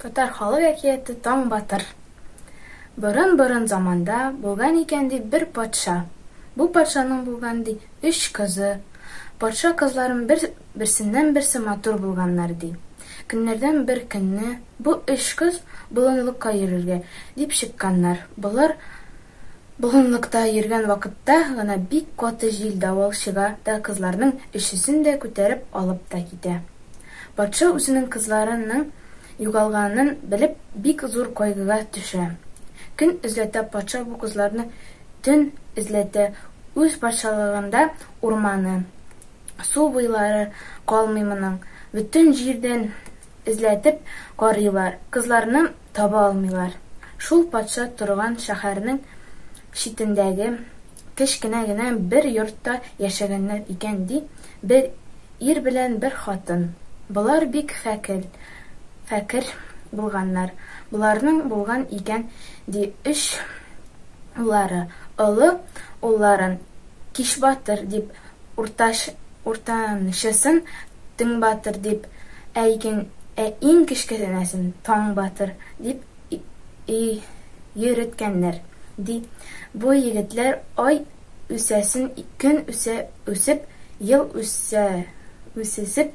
Татар халык әкияте Таң батыр. Борын-борын заманда булган икән ди бер патша. Бу патшаның булган ди өч кызы. Патша кызларын бер берсеннән-берсе матур булганнар ди. Көннәрдән бер көнне бу өч кыз болынлыкка йөрергә дип чыкканнар. Болар болынлыкта йөргән вакытта гына бик каты җил давыл чыга да кызларның өчесен дә күтәреп алып та китә. Патша үзенең кызларының югалганын белеп бик зур кайгыга төшә. Көн эзләтә патша бу кызларны төн эзләтә үз патшалыгында урманы, Су буйлары калмый моның, бөтен җирдән эзләтеп карыйлар, кызларны таба алмыйлар. Шул патша торган шәһәрнең читендәге кечкенә генә бер йортта яшәгәннәр икән, ди, бер ир белән бер хатын. Болар бик фәкел, фәкер булганнар. Боларның булган икән, ди, өч уллары. Олы улларын Кичбатыр дип уртач уртанчысын Төнбатыр дип, ә икен ә иң кечкенәсен Таңбатыр дип и йөреткәннәр, ди. Бу егетләр ай үсәсен көн үсә үсеп, ел үсә үсесеп,